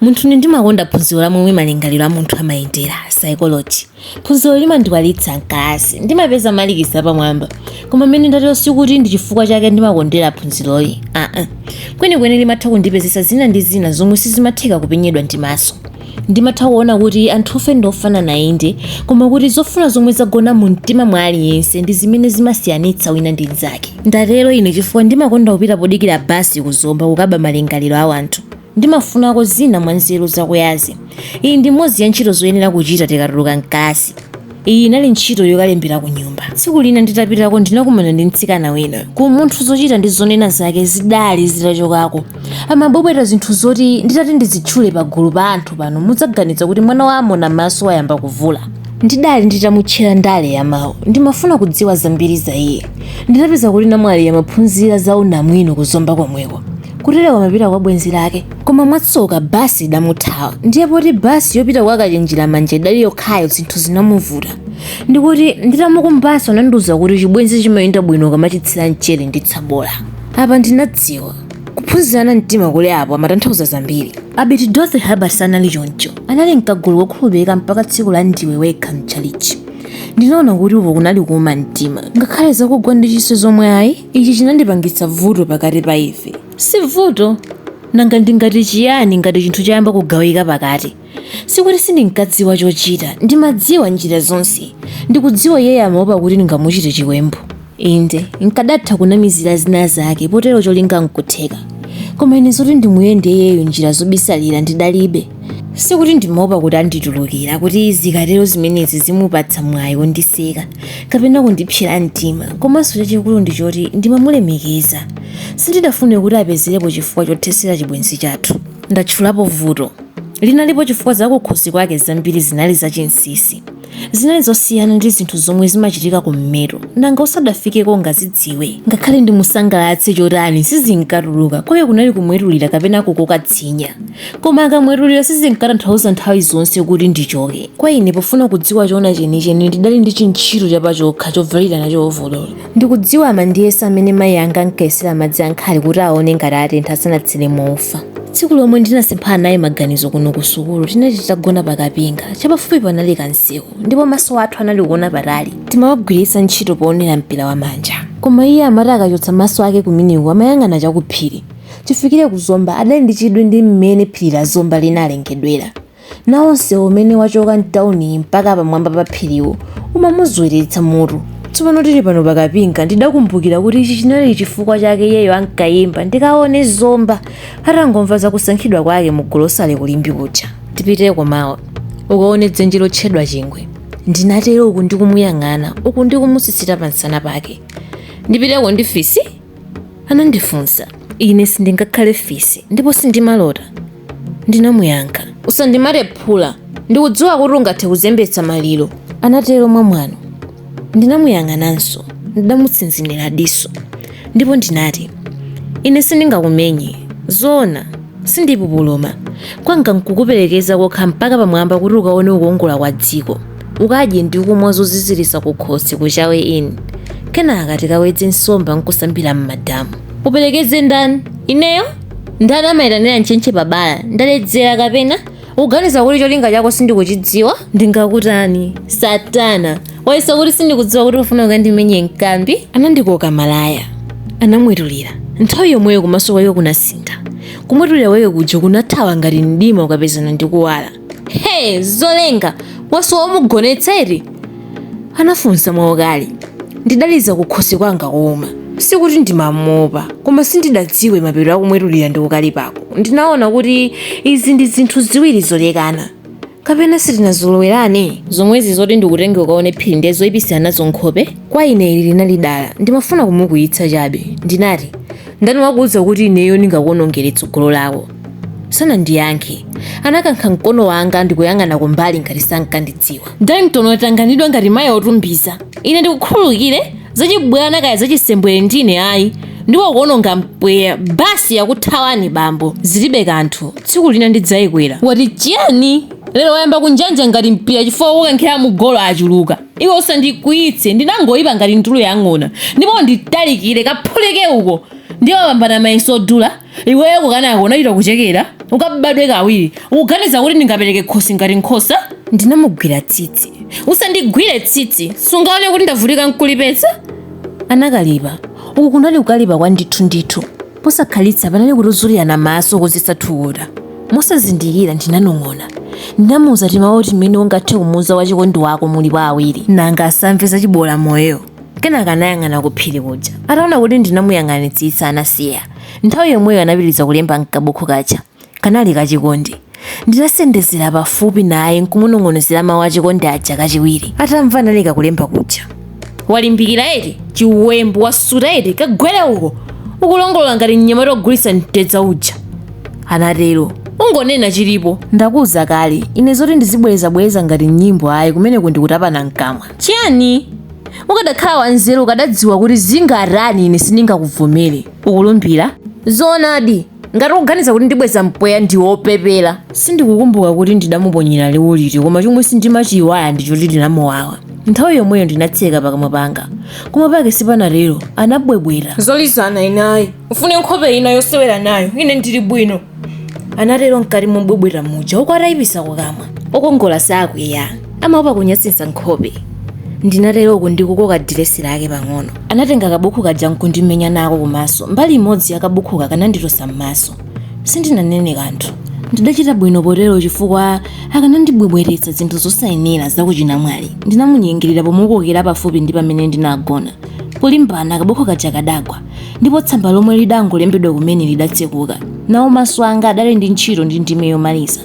Munthune ndimakonda phunziro la momwe malingaliro a munthu amayendera, psychology. Phunziroli limandikwalitsa m'kalasi. Ndimapeza malikisi apamwamba. Koma mmene ndatero sikuti ndi chifukwa chake ndimakondera phunziroli. Aa. Kwenikweni limatha kundipezetsa zina ndi zina zomwe sizimatheka kupenyedwa ndi maso. Ndimatha kuona kuti anthufe ndi ofanana inde, koma kuti zofuna zomwe zagona mumtima mwa aliyense ndi zimene zimasiyanitsa wina ndi mnzake. Ndatero ine chifukwa ndimakonda kupita podikira basi ku Zomba kukaba malingaliro a wanthu. Ndimafunako zina mwa nzeru zakuyazi. Iyi ndi imodzi ya ntchito zoyenera kuchita tikatuluka m'kalasi. Iyi inali ntchito yokalembera kunyumba. Tsiku lina nditapitako ndinakumana ndi mtsikana wina. Ku umunthu zochita ndi zonena zake zidali zitachokako. Amabwebweta zinthu zoti nditati ndizitchule pagulu pa anthu pano mudzaganiza kuti mwana wa Amonamaso wayamba kuvula. Ndidali nditamutchera ndale ya mawu. Ndimafuna kudziwa zambiri za iye. Ndinapeza kuti namwaliyo amaphunzira za unamwino ku Zomba komweko. kutereko amapita kwa bwenzi lake koma mwatsoka basi idamuthawa ndiye poti basi yopita kwa kachenjera manja idali yokhayo zinthu zinamuvuta ndipo nditamukumbanso anandiuza kuti chibwenzi chimayenda bwino ukamachitsira mchere ndi tsabola apa ndinadziwa kuphunzirana mtima kuli apo amatanthauza zambiri abiti dorothy herbert sanali choncho anali m'kagulu kokhulupirika mpaka tsiku la ndiwe wekha mchalichi ndinaona kuti uko kunali kuuma mtima ngakhale zakugwa ndi kiss zomwe ayi Ichi chinadzapangitsa vuto pakati pa ife. Si vuto nanga ndingati chiyani ngati chinthu chayamba kugawika pakati? Sikuti sindinkadziwa chochita, ndimadziwa njira zonse. Ndikudziwa iyeyo amaopa kuti ndingamuchite chiwembu. Inde, nkadatha kunamizira zina zake potero cholinga nkutheka. Koma ine zoti ndimuyende iyeyo njira zobisalira ndidalibe. sikuti ndimaopa kuti anditulukira kuti zikatero zimenezi zimupatsa mwayi wondiseka kapena kundipsera mtima komanso chachikulu ndi choti ndimamulemekeza sindidafune kuti apezerepo chifukwa chothesera chibwenzi chathu ndatchulapo vuto linalipo chifukwa zakukhosi kwake zambiri zinali zachinsisi zinali zosiyana ndi zinthu zomwe zimachitika kummeto nanga usadafikeko ungazidziwe ngakhale ndimusangalatse chotani sizinkatuluka kwa iye kunali kumwetulira kapena kukoka tsinya koma akamwetulira sizinkatanthauza nthawi zonse kuti ndichoke kwa ine pofuna kudziwa choona chenicheni ndidali ndi chintchito chapachokha chovalira nacho ovololo Ndikudziwa amandiyesa mmene mayi anga ankayesera madzi a nkhali kuti aone ngati atentha asanatsire mo ufa. Tsiku lomwe ndinasemphana naye maganizo kuno ku sukulu tinali titagona pa kapinga chapafupi panali kamsewu ndipo maso athu anali kuona patali. Timawagwiritsa ntchito poonera mpira wamanja. Koma iye amati akachotsa maso ake kumeneko amayang'ana chakuphiri. Chifikire ku Zomba adali ndi chidwi ndi mmene phiri la Zomba linalengedwera. Nawo msewu umene wachoka m'tauniyi mpaka pamwamba pa phiriwu umamuzweretsa mutu. Tsopano tili pano pa kapinga, ndidakumbukira kuti ichi chinali chifukwa chake iyeyo ankaimba Ndikaone Zomba atangomva za kusankhidwa kwake mu golosale ku Limbe kuja. Tipiteko mawa, ukaone dzenje lotchedwa Chingwe, ndinatero uku ndikumuyang'ana uku ndikumusisita pamsana pake. Ndipiteko ndi fisi? anandifunsa. Ine sindingakhale fisi, ndipo sindimalota. Ndinamuyankha. Usandimate phula. Ndikudziwa kuti ungathe kuzembetsa maliro. Anatero mwamwano. Ndinamuyang'ananso. Ndidamutsinzinira diso. Ndipo ndinati, Ine sindingakumenye. Zoona, sindipupuluma. Kwanga n'kukuperekeza kokha mpaka pamwamba kuti ukaone kukongola kwa dziko. Ukadye ndi kumwa zoziziritsa kukhosi ku Chawe Inn. Kenaka tikawedze nsomba n'kusambira m'madamu. Uperekeze ndani? Ineyo? ndani amayitanira ntchentche pa bala ndaledzera kapena ukuganiza kuti cholinga chako sindikuchidziwa ndingakutani satana wayesa kuti sindikudziwa kuti ufuna ukandimenye mkambi anandikoka malaya anamwetulira nthawi yomweyo kumaso kwake kunasintha kumwetulira kwake kuja kunathawa ngati mdima ukapezana ndi kuwala Hey, zolenga wasowa omugonetsa eti? anafunsa mwaukali. Ndidaliza kukhosi kwanga kuuma. Sikuti ndimamuopa, koma sindidadziwe mapeto a kumwetulira ndi kukalipako. Ndinaona kuti izi ndi zinthu ziwiri zolekana. kapena sitinazolowerane zomwezi zoti ndikutenge ukaone phiri ndiye zoipitsira nazo nkhope kwa ine ili linali dala ndimafuna kumukwiyitsa chabe ndinati Ndani wakuuza kuti ineyo ndingakuwonongere tsogolo lako? Sanandiyankhe. Anakankha mkono wanga ndi kuyang'ana kumbali ngati sankandidziwa. Danton watanganidwa ngati mayi otumbiza. Ine ndikukhululukire zachibwana kaya zachisembwere ndi ine ayi ndipo ukuwononga mpweya basi yakuthawani bambo zilibe kanthu tsiku lina ndidzayikwera. Wati chiyani? Lero wayamba kunjanja ngati mpira chifukwa wokankhira mu golo achuluka. Iwe usandikwiyitse, ndinangoipa ngati ndulu ya ng'ona. Ndipo unditalikire, kaphulike uko! Ndiye wapambana mayeso odula? Iweyo kukanako unachita kuchekera? Ukabadwe kawiri, ukuganiza kuti ndingapereke khosi ngati nkhosa? Ndinamugwira tsitsi. Usandigwire tsitsi! Sungaone kuti ndavutika n'kulipesa? Anakalipa. Uku kunali kukalipa kwa ndithu ndithu. Posakhalitsa panali kutuzulirana maso kodzetsa thukuta. Mosazindikira ndinanong'ona. Ndinamuuza timawu timene ungathe kumuuza wachikondi wako mulipo awiri. Nanga asamve za chiboolamoyo? Kenaka anayang'ana kuphiri kuja. Ataona kuti ndinamuyang'anitsitsa anasiya. Nthawi yomweyo anapitiriza kulemba m'kabukhu kaja. Kanali kachikondi. Ndinasendezera pafupi naye n'kumunong'onezera mawu achikondi aja kachiwiri. Atamva analeka kulemba kuja. Walimbikira eti? Chiwembu wasuta eti? Kagwere uko! Ukulongolola ngati mnyamata wogulitsa mtedza uja. Anatero. Ungonena chilipo. Ndakuuza kale, ine zoti ndizibwerezabwereza ngati m'nyimbo ayi kumeneko ndi kutapana m'kamwa. Chiyani? Ukadakhala wanzeru ukadadziwa kuti zingatani ine sindingakuvomere. Ukulumbira? Zoonadi! Ngati ukuganiza kuti ndibweza mpweya ndiwe opepera. Sindikukumbuka kuti ndidamuponyera liwu liti koma chomwe sindimachiiwala ndi choti linamuwawa. Nthawi yomweyo ndinatseka pakamwa panga. Koma pake sipanatero, anabwebweta. Zolizana ine ayi. Ufune nkhope ina yosewera nayo, ine ndili bwino. Anatero mkati mobwebweta muja uku atayipisa kukamwa. Okongola sakwiya. Amaopa kunyasitsa nkhope. Ndinatero uku ndikukoka diresi lake pang'ono. Anatenga kabukhu kaja n'kundimenya nako kumaso. Mbali imodzi ya kabukhuka kananditosa m'maso. Sindinanene kanthu. Ndidachita bwino potero chifukwa akanandibwebwetetsa zinthu zosayenera za kuchinamwali. Ndinamunyengerera pomukokera pafupi ndi pamene ndinagona. Polimbana, kabukhu kaja kadagwa, ndipo tsamba lomwe lidangolembedwa kumene lidatsekuka. Nawo maso anga adali ndi ntchito ndi ndime yomaliza.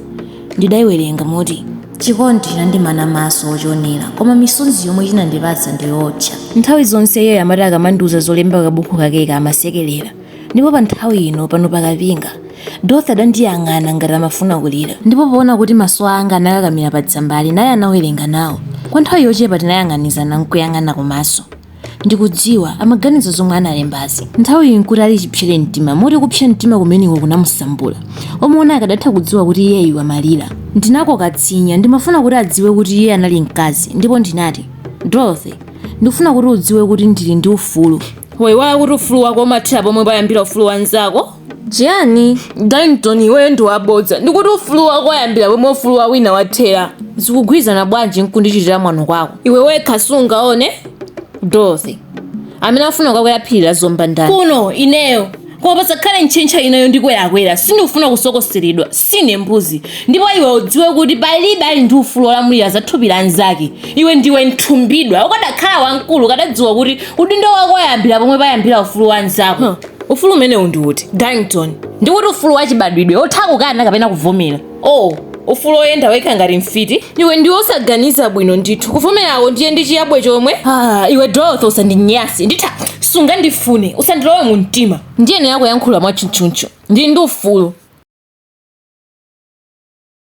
Ndidaiwerenga moti. chikondi chinandimana maso ochionera koma misonzi yomwe chinandipatsa ndiyootcha nthawi zonse iyeyo amati akamandiuza zolemba kabuku kakeka amasekelera ndipo pa nthawi ino pano pakapinga dorothy adandiyang'ana ngati amafuna kulira ndipo poona kuti maso anga anakakamira pa tsambali naye anawerenga nawo kwa nthawi yochepa tinayang'anizana nkuyang'ana kumaso Ndikudziwa amaganiza zomwe analembazi. Nthawiyi n'kuti ali chipsere mtima moti kupsa mtima kumeneko kunamusambula. Omuona akadatha kudziwa kuti iyeyu amalira. Ndinakoka tsinya. Ndimafuna kuti adziwe kuti iye anali mkazi ndipo ndinati, Dorothy, ndikufuna kuti udziwe kuti ndili ndi ufulu. Waiwala kuti ufulu wako umathera pomwe payambira ufulu wa mnzako? chiyani darlington iweyo ndi wabodza ndikuti ufulu wako wayambira pomwe ufulu wa wina wathera zikugwirizana bwanji nkundichitira mwano kwako iwe wekha sungaone dorothy amene afuna kukakwera phiri la zomba ndani kuno ineyo koma pasakhale ntchentcha ina yondikwerakwera sindikufuna kusokoseredwa sine mbuzi ndipo iwe udziwe kuti palibe ali ndi ufulu wolamulira za thupi la nzake iwe ndiwe nthumbidwa ukadakhala wamkulu ukadadziwa kuti udindo wako wayambira pomwe payambira ufulu wa nzako ufulu umenewu ndi uti Darlington? Ndikuti ufulu wachibadwidwe wotha kukana kapena kuvomera. Oh, ufulu woyenda wekha ngati mfiti? Iwe ndiwe osaganiza bwino ndithu. Kuvomerako ndiye ndi chiyabwe chomwe? Ah, iwe Dorothy usandinyase. Nditha sungandifune, usandilowe mu mtima. Ndiyenera kuyankhula mwatchutchutchu. Ndili ndi ufulu.